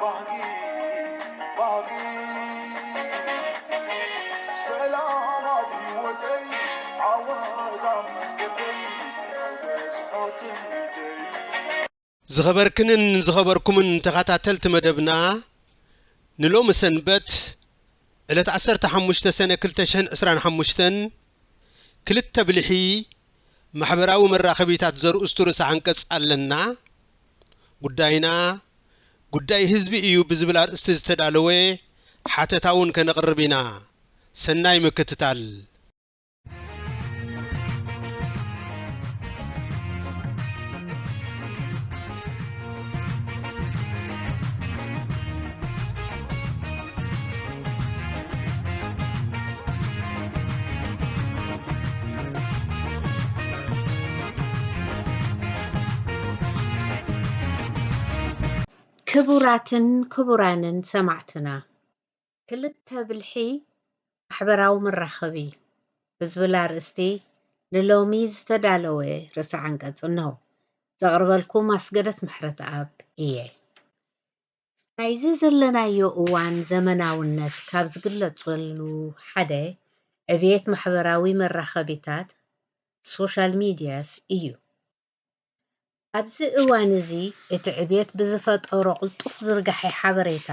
ባህጊ ባህጊ ሰላም ኣብ ሂወተይ ዓወት ኣብ መንገደይ ክበጽሖ ትምኒተይ ዝኸበርክንን ዝኸበርኩምን ተኸታተልቲ መደብና ንሎሚ ሰንበት ዕለት ዓሰርተ ሓሙሽተ ሰነ ክልተ ሽሕን ዕስራን ሓሙሽተን ክልተ ብልሒ ማሕበራዊ መራኸቢታት ዘርእስቱ ርእሰ ዓንቀጽ ኣለና ጉዳይና ጉዳይ ህዝቢ እዩ ብዝብል ኣርእስቲ ዝተዳለወ ሓተታ እውን ከነቕርብ ኢና። ሰናይ ምክትታል። ክቡራትን ክቡራንን ሰማዕትና ክልተ ብልሒ ማሕበራዊ መራኸቢ ብዝብል ኣርእስቲ ንሎሚ ዝተዳለወ ርእሰ ዓንቀጽ እነሆ። ዘቕርበልኩም ኣስገደት ምሕረትኣብ እየ። ናይዚ ዘለናዮ እዋን ዘመናውነት ካብ ዝግለፀሉ ሓደ ዕብየት ማሕበራዊ መራኸቢታት፣ Social Medias፣ እዩ። ኣብዚ እዋን እዚ እቲ ዕብየት ብዝፈጠሮ ቅልጡፍ ዝርጋሐ ሓበሬታ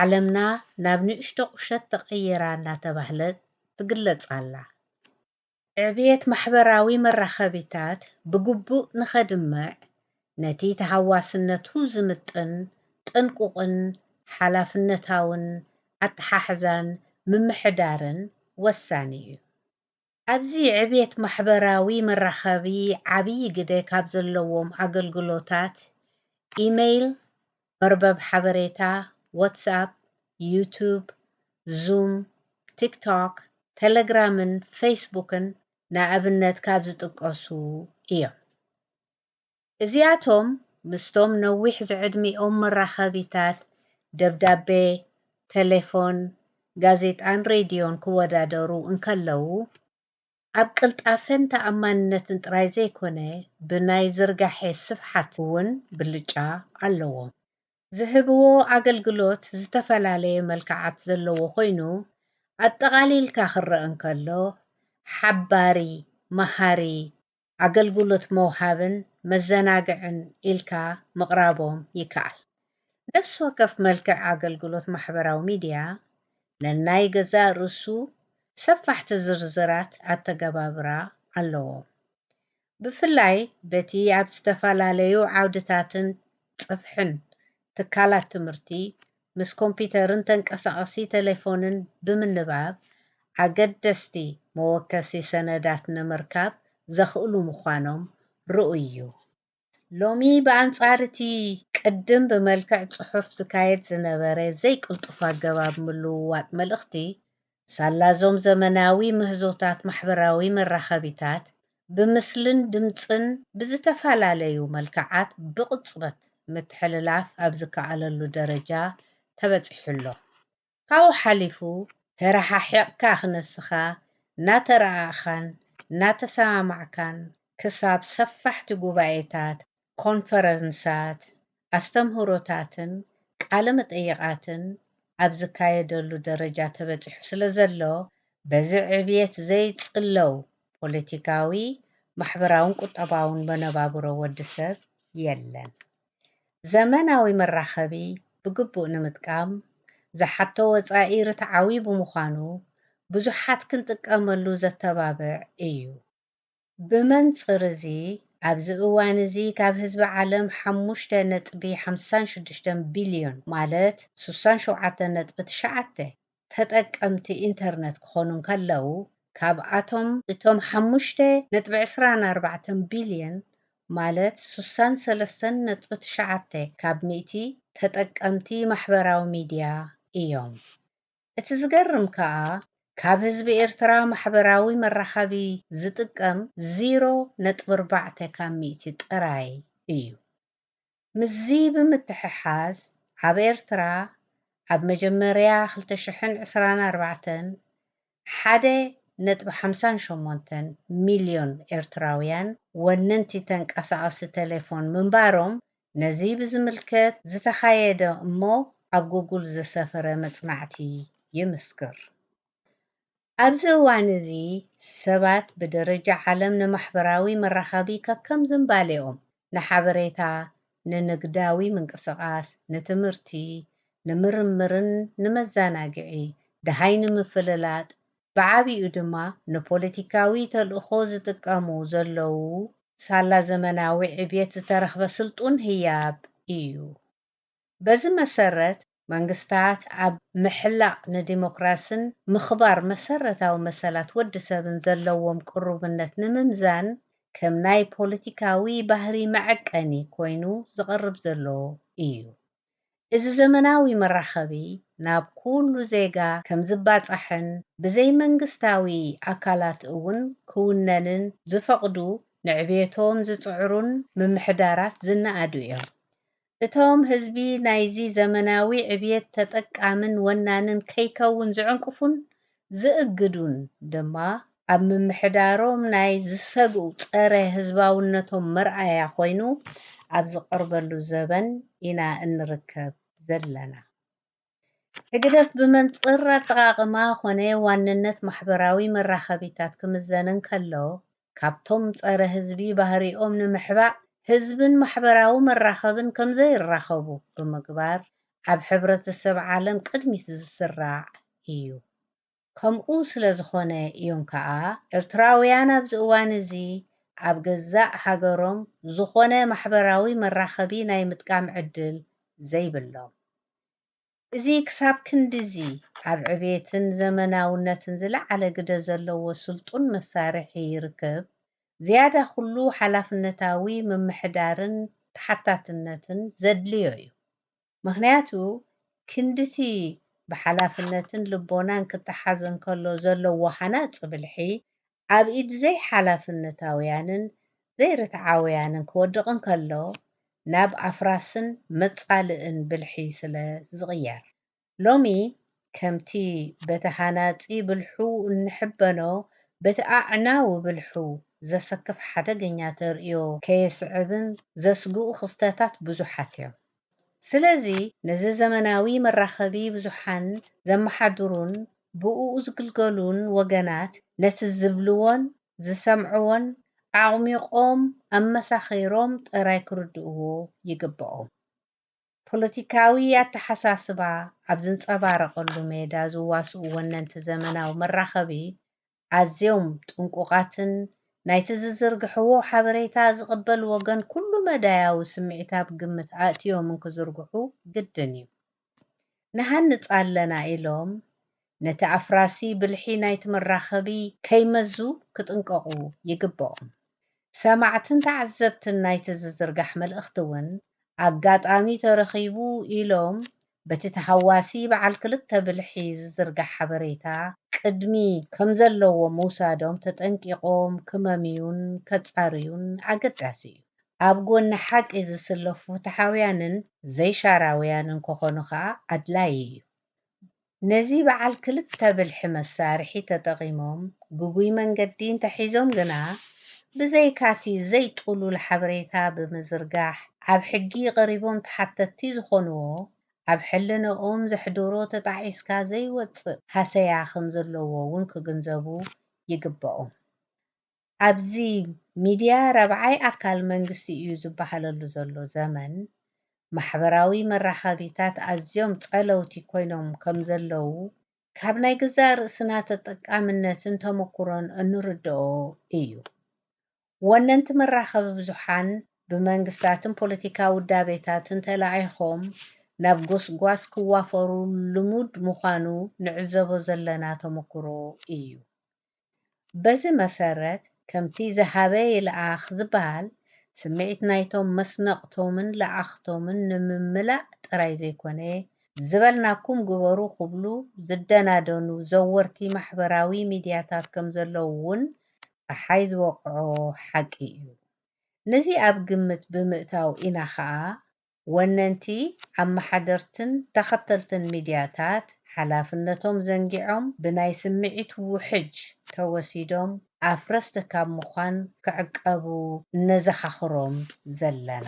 ዓለምና ናብ ንእሽቶ ቁሸት ተቐይራ እናተባህለት ትግለፅ ኣላ። ዕብየት ማሕበራዊ መራኸቢታት ብግቡእ ንኸድምዕ፣ ነቲ ተሃዋስነቱ ዝምጥን ጥንቁቕን ሓላፍነታውን ኣተሓሕዛን ምምሕዳርን ወሳኒ እዩ። ኣብዚ ዕብየት ማሕበራዊ መራኸቢ ዓብዪ ግደ ካብ ዘለዎም ኣገልግሎታት ኢመይል መርበብ ሓበሬታ፣ ዋትስኣፕ፣ ዩቱብ፣ ዙም፣ ቲክቶክ፣ ተለግራምን ፌስቡክን ንኣብነት ካብ ዝጥቀሱ እዮም። እዚኣቶም ምስቶም ነዊሕ ዝዕድሚኦም መራኸቢታት ደብዳቤ፣ ተሌፎን፣ ጋዜጣን ሬድዮን ክወዳደሩ እንከለዉ፣ ኣብ ቅልጣፈን ተኣማንነትን ጥራይ ዘይኮነ ብናይ ዝርጋሐ ስፍሓት እውን ብልጫ ኣለዎም። ዝህብዎ ኣገልግሎት ዝተፈላለየ መልክዓት ዘለዎ ኮይኑ ኣጠቓሊልካ ክረኣ እንከሎ ሓባሪ፣ መሃሪ፣ ኣገልግሎት መውሃብን መዘናግዕን ኢልካ ምቕራቦም ይከኣል። ነፍሲ ወከፍ መልክዕ ኣገልግሎት ማሕበራዊ ሚድያ ነናይ ገዛእ ርእሱ ሰፋሕቲ ዝርዝራት ኣተገባብራ ኣለዎም። ብፍላይ በቲ ኣብ ዝተፈላለዩ ዓውድታትን ጽፍሕን ትካላት ትምህርቲ ምስ ኮምፒተርን ተንቀሳቐሲ ተሌፎንን ብምንባብ ኣገደስቲ መወከሲ ሰነዳት ንምርካብ ዘኽእሉ ምዃኖም ርኡይ እዩ። ሎሚ ብኣንጻር እቲ ቅድም ብመልክዕ ጽሑፍ ዝካየድ ዝነበረ ዘይቅልጡፍ ኣገባብ ምልውዋጥ መልእኽቲ፣ ሳላ'ዞም ዘመናዊ ምህዞታት ማሕበራዊ መራኸቢታት፣ ብምስልን ድምጽን ብዝተፈላለዩ መልክዓት ብቕጽበት ምትሕልላፍ ኣብ ዝከኣለሉ ደረጃ ተበጺሑ'ሎ። ካብኡ ሓሊፉ፣ ተረሓሒቕካ ክነስኻ፣ እናተረኣእኻን እናተሰማማዕካን ክሳብ ሰፋሕቲ ጉባኤታት፣ ኮንፈረንሳት፣ ኣስተምህሮታትን ቃለ መጠይቓትን ኣብ ዝካየደሉ ደረጃ ተበጺሑ ስለ ዘሎ፣ በዚ ዕብየት ዘይጽለው ፖለቲካዊ፣ ማሕበራውን ቁጠባውን መነባብሮ ወዲ ሰብ የለን። ዘመናዊ መራኸቢ ብግቡእ ንምጥቃም ዝሓቶ ወጻኢ ርትዓዊ ብምዃኑ፣ ብዙሓት ክንጥቀመሉ ዘተባብዕ እዩ። ብመንጽር እዚ ኣብዚ እዋን እዚ ካብ ህዝቢ ዓለም ሓሙሽተ ነጥቢ ሓምሳን ሽዱሽተን ቢልዮን ማለት ስሳን ሸውዓተን ነጥቢ ትሽዓተ ተጠቀምቲ ኢንተርነት ክኾኑ እንከለዉ ካብኣቶም እቶም ሓሙሽተ ነጥቢ ዕስራን ኣርባዕተን ቢልዮን ማለት ስሳን ሰለስተን ነጥቢ ትሽዓተ ካብ ሚእቲ ተጠቀምቲ ማሕበራዊ ሚድያ እዮም። እቲ ዝገርም ከኣ ካብ ህዝቢ ኤርትራ ማሕበራዊ መራኸቢ ዝጥቀም ዚሮ ነጥቢ ኣርባዕተ ካብ ሚእቲ ጥራይ እዩ። ምስዚ ብምትሕሓዝ ኣብ ኤርትራ ኣብ መጀመርያ ክልተ ሽሕን ዕስራን ኣርባዕተን ሓደ ነጥቢ ሓምሳን ሸሞንተን ሚልዮን ኤርትራውያን ወነንቲ ተንቀሳቐሲ ተሌፎን ምንባሮም ነዚ ብዝምልከት ዝተኻየደ እሞ ኣብ ጉጉል ዘሰፈረ መጽናዕቲ ይምስክር። ኣብዚ እዋን እዚ ሰባት ብደረጃ ዓለም ንማሕበራዊ መራኸቢ ከከም ዝንባሌኦም፣ ንሓበሬታ፣ ንንግዳዊ ምንቅስቓስ፣ ንትምህርቲ፣ ንምርምርን ንመዛናግዒ፣ ደሃይ ንምፍልላጥ፣ ብዓቢኡ ድማ ንፖለቲካዊ ተልእኾ ዝጥቀሙ ዘለዉ ሳላ ዘመናዊ ዕብየት ዝተረኽበ ስልጡን ህያብ እዩ። በዚ መሰረት መንግስታት ኣብ ምሕላቕ ንዲሞክራስን ምኽባር መሰረታዊ መሰላት ወዲ ሰብን ዘለዎም ቅሩብነት ንምምዛን ከም ናይ ፖለቲካዊ ባህሪ መዐቀኒ ኮይኑ ዝቐርብ ዘሎ እዩ። እዚ ዘመናዊ መራኸቢ ናብ ኩሉ ዜጋ ከምዝባፃሕን ብዘይመንግስታዊ ኣካላት እውን ክውነንን ዝፈቕዱ ንዕቤቶም ዝፅዕሩን ምምሕዳራት ዝነኣዱ እዮም። እቶም ህዝቢ ናይዚ ዘመናዊ ዕብየት ተጠቃምን ወናንን ከይከውን ዝዕንቅፉን ዝእግዱን ድማ ኣብ ምምሕዳሮም ናይ ዝሰግኡ ጸረ ህዝባውነቶም መርኣያ ኮይኑ ኣብ ዝቐርበሉ ዘበን ኢና እንርከብ ዘለና። ሕግደፍ ብመንጽር ኣጠቓቕማ ኮነ ዋንነት ማሕበራዊ መራኸቢታት ክምዘን እንከሎ ካብቶም ጸረ ህዝቢ ባህሪኦም ንምሕባእ ህዝብን ማሕበራዊ መራኸብን ከምዘይራኸቡ ብምግባር ኣብ ሕብረተሰብ ዓለም ቅድሚት ዝስራዕ ኢዩ። ከምኡ ስለዝኾነ ኢዮም ከኣ ኤርትራውያን ኣብዚ እዋን እዚ ኣብ ገዛእ ሃገሮም ዝኾነ ማሕበራዊ መራኸቢ ናይ ምጥቃም ዕድል ዘይብሎም። እዚ ክሳብ ክንድዚ ኣብ ዕቤትን ዘመናውነትን ዝለዓለ ግደ ዘለዎ ስልጡን መሳርሒ ርክብ፣ ዝያዳ ኵሉ ሓላፍነታዊ ምምሕዳርን ተሓታትነትን ዘድልዮ እዩ። ምኽንያቱ ክንድቲ ብሓላፍነትን ልቦናን ክተሓዝ እንከሎ ዘለዎ ሃናጺ ብልሒ፣ ኣብ ኢድ ዘይሓላፍነታውያንን ዘይርትዓውያንን ክወድቕ እንከሎ ናብ ኣፍራስን መጻልእን ብልሒ ስለ ዝቕየር። ሎሚ ከምቲ በቲ ሃናጺ ብልሑ እንሕበኖ በቲ ኣዕናዊ ብልሑ ዘሰክፍ ሓደገኛ ተርእዮ ከየስዕብን ዘስግኡ ክስተታት ብዙሓት እዮም። ስለዚ ነዚ ዘመናዊ መራኸቢ ብዙሓን ዘመሓድሩን ብእኡ ዝግልገሉን ወገናት ነቲ ዝብልዎን ዝሰምዕዎን ኣዕሚቖም ኣመሳኺሮም ጥራይ ክርድእዎ ይግበኦም። ፖለቲካዊ ኣተሓሳስባ ኣብ ዝንጸባረቐሉ ሜዳ ዝዋስኡ ወነንቲ ዘመናዊ መራኸቢ ኣዝዮም ጥንቁቓትን ናይቲ ዝዝርግሕዎ ሓበሬታ ዝቕበል ወገን ኩሉ መዳያዊ ስምዒት ኣብ ግምት ኣእትዮም እንክዝርግሑ ግድን እዩ። ንሃንጽ ኣለና ኢሎም ነቲ ኣፍራሲ ብልሒ ናይቲ መራኸቢ ከይመዙ ክጥንቀቑ ይግበኦም። ሰማዕትን ተዓዘብትን ናይቲ ዝዝርጋሕ መልእኽቲ እውን ኣጋጣሚ ተረኺቡ ኢሎም በቲ ተሃዋሲ በዓል ክልተ ብልሒ ዝዝርጋሕ ሓበሬታ ቅድሚ ከምዘለዎ ምውሳዶም ተጠንቂቖም ክመምዩን ከፃርዩን ኣገዳሲ እዩ። ኣብ ጎኒ ሓቂ ዝስለፉ ፍትሓውያንን ዘይሻራውያንን ከኾኑ ከዓ ኣድላዪ እዩ። ነዚ በዓል ክልተ ብልሒ መሳርሒ ተጠቒሞም ግጉይ መንገዲ እንተሒዞም ግና ብዘይካ'ቲ ዘይጥሉል ሓበሬታ ብምዝርጋሕ ኣብ ሕጊ ቀሪቦም ተሓተትቲ ዝኾንዎ ኣብ ሕልንኦም ዘሕድሮ ተጣዒስካ ዘይወጽእ ሃሰያ ከምዘለዎ'ውን ክግንዘቡ ይግበኦም። ኣብዚ ሚድያ ራብዓይ ኣካል መንግስቲ እዩ ዝበሃለሉ ዘሎ ዘመን ማሕበራዊ መራኸቢታት ኣዝዮም ጸለውቲ ኮይኖም ከምዘለዉ ካብ ናይ ገዛእ ርእስና ተጠቃምነትን ተመኩሮን እንርደኦ እዩ። ወነንቲ መራኸቢ ብዙሓን ብመንግስታትን ፖለቲካ ውዳቤታትን ተላኢኾም ናብ ጎስጓስ ክዋፈሩ ልሙድ ምዃኑ ንዕዘቦ ዘለና ተመኩሮ እዩ። በዚ መሰረት ከምቲ ዝሃበ ይልኣኽ ዝበሃል፣ ስምዒት ናይቶም መስነቕቶምን ለኣኽቶምን ንምምላእ ጥራይ ዘይኮነ፣ ዝበልናኩም ግበሩ ክብሉ ዝደናደኑ ዘወርቲ ማሕበራዊ ሚድያታት ከምዘለዉ እውን ጸሓይ ዝወቕዖ ሓቂ እዩ። ነዚ ኣብ ግምት ብምእታው ኢና ከኣ ወነንቲ ኣመሓደርትን ተኸተልትን ሚድያታት ሓላፍነቶም ዘንጊዖም ብናይ ስምዒት ውሕጅ ተወሲዶም ኣፍረስቲ ካብ ምዃን ክዕቀቡ እነዘኻኽሮም ዘለና።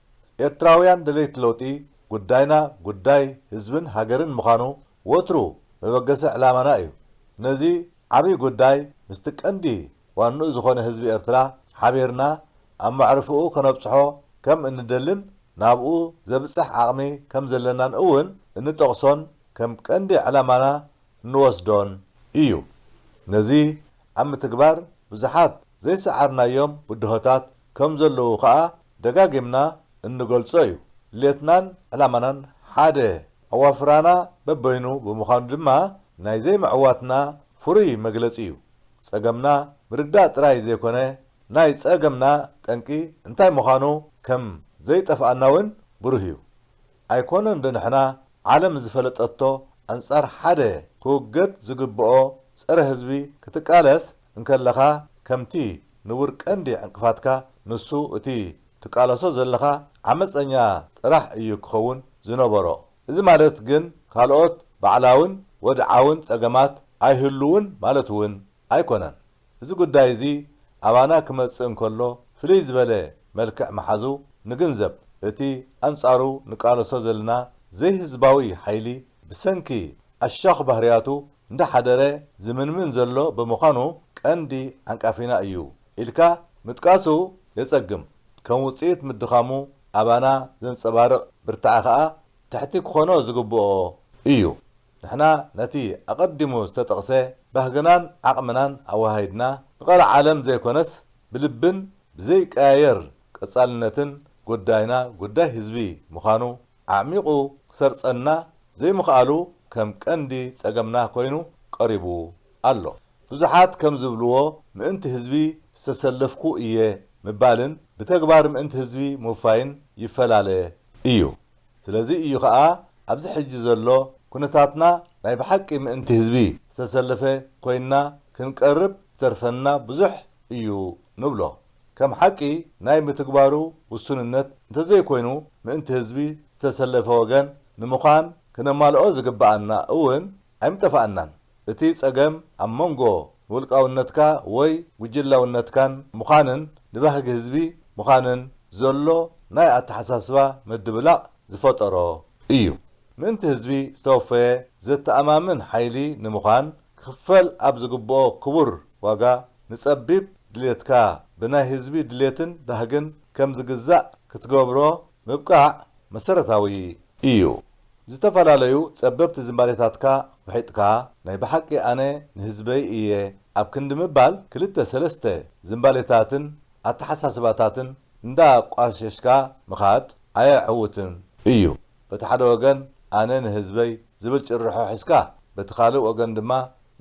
ኤርትራውያን ደለይቲ ለውጢ ጉዳይና ጉዳይ ህዝብን ሃገርን ምዃኑ ወትሩ መበገሲ ዕላማና እዩ። ነዚ ዓብይ ጉዳይ ምስቲ ቀንዲ ዋንኡ ዝኾነ ህዝቢ ኤርትራ ሓቢርና ኣብ መዕርፎኡ ከነብጽሖ ከም እንደልን ናብኡ ዘብጽሕ ዓቕሚ ከም ዘለናን እውን እንጠቕሶን ከም ቀንዲ ዕላማና እንወስዶን እዩ። ነዚ ኣብ ምትግባር ብዙሓት ዘይሰዓርናዮም ብድሆታት ከም ዘለዉ ከኣ ደጋጊምና እንገልጾ እዩ። ድሌትናን ዕላማናን ሓደ፣ ኣዋፍራና በበይኑ ብምዃኑ ድማ ናይ ዘይምዕዋትና ፍሩይ መግለጺ እዩ። ጸገምና ምርዳእ ጥራይ ዘይኮነ ናይ ጸገምና ጠንቂ እንታይ ምዃኑ ከም ዘይጠፍኣና እውን ብሩህ እዩ። ኣይኮነን ዶ ንሕና ዓለም ዝፈለጠቶ ኣንጻር ሓደ ክውገድ ዝግብኦ ጸረ ህዝቢ ክትቃለስ እንከለኻ ከምቲ ንቡር ቀንዲ ዕንቅፋትካ ንሱ እቲ ትቃለሶ ዘለኻ ዓመጸኛ ጥራሕ እዩ ክኸውን ዝነበሮ እዚ ማለት ግን ካልኦት ባዕላውን ወድዓውን ጸገማት ኣይህልውን ማለት እውን ኣይኮነን እዚ ጉዳይ እዚ ኣባና ክመጽእ እንከሎ ፍልይ ዝበለ መልክዕ ምሓዙ ንግንዘብ። እቲ ኣንጻሩ ንቃለሶ ዘለና ዘይህዝባዊ ሓይሊ ብሰንኪ ኣሻዅ ባህርያቱ እንዳሓደረ ዝምንምን ዘሎ ብምዃኑ ቀንዲ ዓንቃፊና እዩ ኢልካ ምጥቃሱ የጸግም። ከም ውጽኢት ምድኻሙ ኣባና ዘንጸባርቕ ብርታዐ ከኣ ትሕቲ ክኾኖ ዝግብኦ እዩ። ንሕና ነቲ ኣቐዲሙ ዝተጠቕሰ ባህግናን ዓቕምናን ኣወሃሂድና ንቐልዓ ዓለም ዘይኮነስ ብልብን ብዘይቀያየር ቀጻልነትን ጉዳይና ጉዳይ ህዝቢ ምዃኑ ኣዕሚቑ ክሰርጸና ዘይምኽኣሉ ከም ቀንዲ ጸገምና ኮይኑ ቀሪቡ ኣሎ። ብዙሓት ከም ዝብልዎ ምእንቲ ህዝቢ ዝተሰለፍኩ እየ ምባልን ብተግባር ምእንቲ ህዝቢ ምውፋይን ይፈላለ እዩ። ስለዚ እዩ ከኣ ኣብዚ ሕጂ ዘሎ ኩነታትና ናይ ብሓቂ ምእንቲ ህዝቢ ዝተሰለፈ ኮይንና ክንቀርብ ዝተርፈና ብዙሕ እዩ ንብሎ። ከም ሓቂ ናይ ምትግባሩ ውሱንነት እንተዘይኮይኑ ምእንቲ ህዝቢ ዝተሰለፈ ወገን ንምዃን ክነማልኦ ዝግበኣና እውን ኣይምጠፋኣናን እቲ ጸገም ኣብ መንጎ ንውልቃውነትካ ወይ ጉጅላውነትካን ምዃንን ንባህጊ ህዝቢ ምዃንን ዘሎ ናይ ኣተሓሳስባ ምድብላቕ ዝፈጠሮ እዩ። ምእንቲ ህዝቢ ዝተወፈየ ዘተኣማምን ሓይሊ ንምዃን ክኽፈል ኣብ ዝግብኦ ክቡር ዋጋ ንጸቢብ ድሌትካ ብናይ ህዝቢ ድሌትን ባህግን ከም ዝግዛእ ክትገብሮ ምብቃዕ መሰረታዊ ኢዩ። ዝተፈላለዩ ጸበብቲ ዝንባሌታትካ ውሒጥካ ናይ ብሓቂ ኣነ ንህዝበይ ኢየ ኣብ ክንዲ ምባል ክልተ ሰለስተ ዝንባሌታትን ኣተሓሳስባታትን እንዳ ቋሸሽካ ምኻድ ኣየዕውትን ኢዩ። በቲ ሓደ ወገን ኣነ ንህዝበይ ዝብል ጭርሖ ሒዝካ በቲ ካልእ ወገን ድማ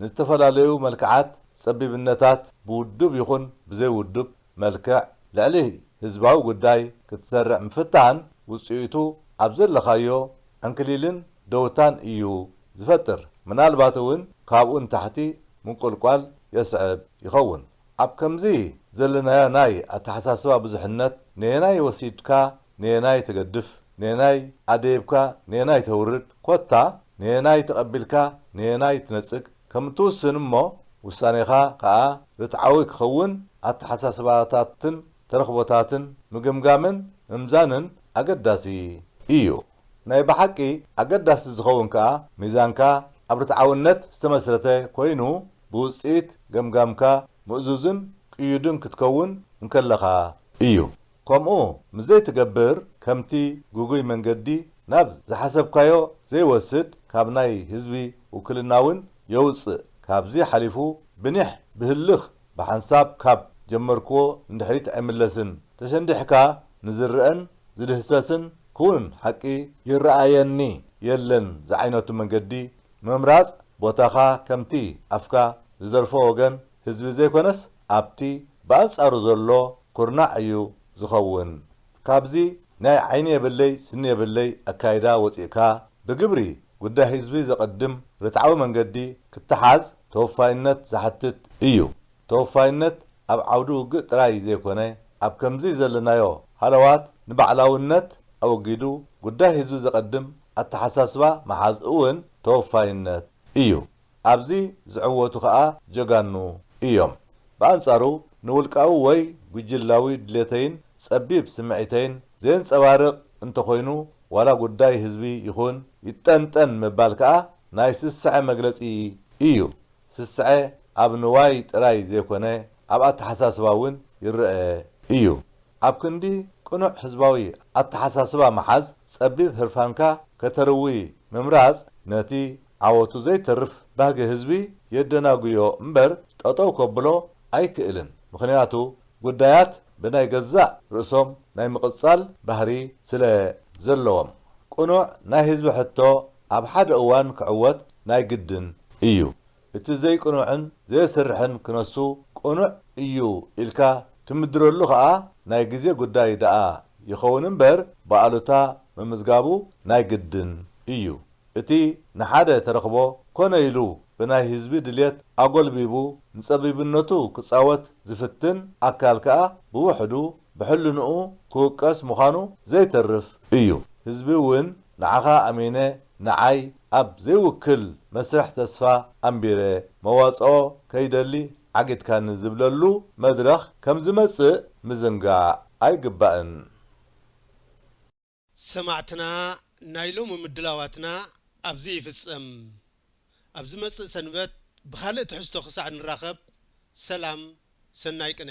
ንዝተፈላለዩ መልክዓት ጸቢብነታት ብውዱብ ይኹን ብዘይ ውዱብ መልክዕ ልዕሊ ህዝባዊ ጉዳይ ክትሰርዕ ምፍታን ውጽኢቱ ኣብ ዘለኻዮ ዕንክሊልን ደውታን እዩ ዝፈጥር። ምናልባት እውን ካብኡ ንታሕቲ ምንቁልቋል የስዕብ ይኸውን። ኣብ ከምዚ ዘለናዮ ናይ ኣተሓሳስባ ብዙሕነት ነየናይ ወሲድካ ነየናይ ተገድፍ፣ ነየናይ ኣደይብካ ነየናይ ተውርድ፣ ኮታ ነየናይ ተቐቢልካ ነየናይ ትነጽግ፣ ከም እትውስን እሞ ውሳኔኻ ከኣ ርትዓዊ ክኸውን ኣተሓሳስባታትን ተረኽቦታትን ምግምጋምን ምምዛንን ኣገዳሲ ኢዩ። ናይ ብሓቂ ኣገዳሲ ዝኸውን ከኣ ሚዛንካ ኣብ ርትዓውነት ዝተመስረተ ኮይኑ ብውጽኢት ገምጋምካ ምእዙዝን ቅዩድን ክትከውን እንከለኻ ኢዩ። ከምኡ ምስ ዘይትገብር ከምቲ ግጉይ መንገዲ ናብ ዝሓሰብካዮ ዘይወስድ ካብ ናይ ህዝቢ ውክልና ውን የውጽእ ካብዚ ሓሊፉ ብኒሕ ብህልኽ ብሓንሳብ ካብ ጀመርክዎ ንድሕሪት ኣይምለስን ተሸንዲሕካ ንዝረኣን ዝድህሰስን ክውን ሓቂ ይረኣየኒ የለን ዝዓይነቱ መንገዲ ምምራጽ ቦታኻ ከምቲ ኣፍካ ዝደርፎ ወገን ህዝቢ ዘይኮነስ ኣብቲ ብኣንጻሩ ዘሎ ኩርናዕ እዩ ዝኸውን። ካብዚ ናይ ዓይኒ የብለይ ስኒ የብለይ ኣካይዳ ወጺእካ ብግብሪ ጉዳይ ህዝቢ ዘቐድም ርትዓዊ መንገዲ ክተሓዝ ተወፋይነት ዝሓትት እዩ። ተወፋይነት ኣብ ዓውዲ ውግእ ጥራይ ዘይኮነ ኣብ ከምዚ ዘለናዮ ሃለዋት ንባዕላውነት ኣወጊዱ ጉዳይ ህዝቢ ዘቐድም ኣተሓሳስባ ምሓዝ እውን ተወፋይነት እዩ። ኣብዚ ዝዕወቱ ከኣ ጀጋኑ ኢዮም። ብኣንጻሩ ንውልቃዊ ወይ ጉጅላዊ ድሌተይን ጸቢብ ስምዒተይን ዜንጸባርቕ እንተኾይኑ ዋላ ጉዳይ ህዝቢ ይኹን ይጠንጠን ምባል ከኣ ናይ ስስዐ መግለጺ ኢዩ። ስስዐ ኣብ ንዋይ ጥራይ ዘይኮነ ኣብ ኣተሓሳስባ ውን ይረኣ ኢዩ። ኣብ ክንዲ ቅኑዕ ህዝባዊ ኣተሓሳስባ ምሓዝ ጸቢብ ህርፋንካ ከተርዊ ምምራጽ ነቲ ዓወቱ ዘይተርፍ ባህጊ ህዝቢ የደናጉዮ እምበር ጠጠው ከብሎ ኣይክእልን። ምኽንያቱ ጉዳያት ብናይ ገዛእ ርእሶም ናይ ምቕጻል ባህሪ ስለ ዘለዎም። ቅኑዕ ናይ ህዝቢ ሕቶ ኣብ ሓደ እዋን ክዕወት ናይ ግድን እዩ። እቲ ዘይቅኑዕን ዘየስርሕን ክነሱ ቅኑዕ እዩ ኢልካ ትምድረሉ ከኣ ናይ ግዜ ጉዳይ ደኣ ይኸውን እምበር ብኣሉታ ምምዝጋቡ ናይ ግድን እዩ። እቲ ንሓደ ተረኽቦ ኮነ ኢሉ ብናይ ህዝቢ ድልየት ኣጎልቢቡ ንጸቢብነቱ ክጻወት ዝፍትን ኣካል ከኣ ብውሕዱ ብሕልንኡ ክውቀስ ምዃኑ ዘይተርፍ እዩ። ህዝቢ እውን ንዓኻ ኣሚነ ንዓይ ኣብ ዘይውክል መስርሕ ተስፋ ኣንቢረ መዋጽኦ ከይደሊ ዓጊትካኒ ዝብለሉ መድረኽ ከምዝመጽእ ምዝንጋዕ ኣይግባእን። ሰማዕትና ናይ ሎሚ ምድላዋትና ኣብዚ ይፍጸም። ኣብ ዝመጽእ ሰንበት ብኻልእ ትሕዝቶ ክሳዕ ንራኸብ ሰላም ሰናይ ቅነ።